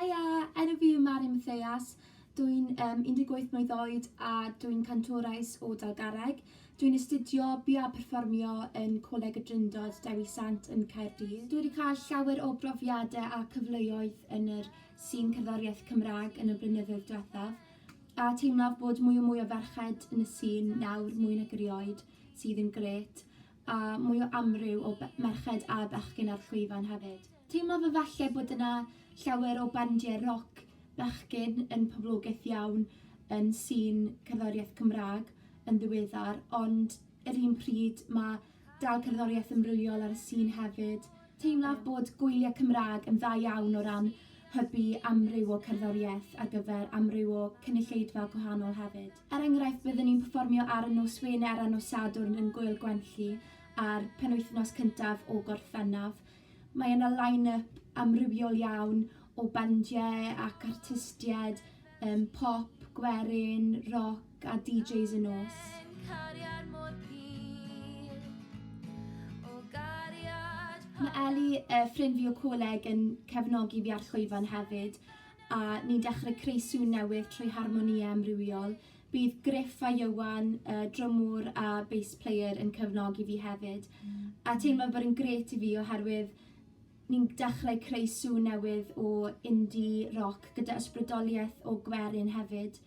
Haia! Enw fi yw Mari Matheas, dw i'n yym 18 mlwydd oed a dw i'n cantores o Dalgarreg. Dw i'n astudio bu a perfformio yn Coleg y Drindod Dewi Sant yn Caerdydd. Dw i 'di cael llawer o brofiade a cyfleoedd yn yr sîn cerddoriaeth Cymrâg yn y blynyddoedd dwethaf, a teimlaf bod mwy a mwy o ferched yn y sîn nawr mwy nag erioed, sydd yn grêt. a mwy o amryw o be- merched a bechgyn ar llwyfan hefyd. Teimlaf efalle bod yna llawer o bandiau roc bechgyn yn poblogaidd iawn yn sîn cerddoriaeth Cymraeg yn ddiweddar, ond yr un pryd mae dal cerddoriaeth amrywiol ar y sîn hefyd. Teimlaf bod gwyliau Cymraeg yn dda iawn o ran hybu amryw o cerddoriaeth ar gyfer amryw o cynulleidfa gwahanol hefyd. Er enghraifft, byddwn ni'n perfformio ar y nos Wener a nos Sadwrn yn Gŵyl Gwenlli a'r penwythnos cyntaf o Gorffennaf. Mae yna line-up amrywiol iawn o bandiau ac artistiaid um, pop, gwerin, roc a DJs y nos. Mae Ellie, uh, ffrind fi o coleg, yn cefnogi fi ar llwyfan hefyd, a ni'n dechrau creu sŵn newydd trwy harmonïau amrywiol. Bydd Griff a Ieuan, y drymwr a bass player, yn cefnogi fi hefyd. Mm. A teimlo bod yn gret i fi oherwydd ni'n dechrau creu sŵn newydd o indie rock gyda ysbrydoliaeth o gwerin hefyd.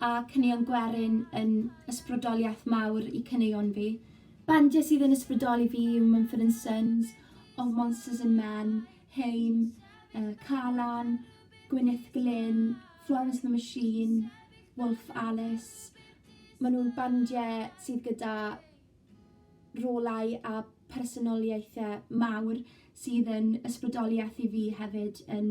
a caneuon gwerin yn ysbrydoliaeth mawr i caneuon fi. Bandiau sydd yn ysbrydoli fi yw Mumford and Sons, Of Monsters and Men, Heim, uh, Calan, Gwyneth Glyn, Florence the Machine, Wolf Alice. Maen nhw'n bandiau sydd gyda rolau a personoliaethau mawr sydd yn ysbrydoliaeth i fi hefyd yn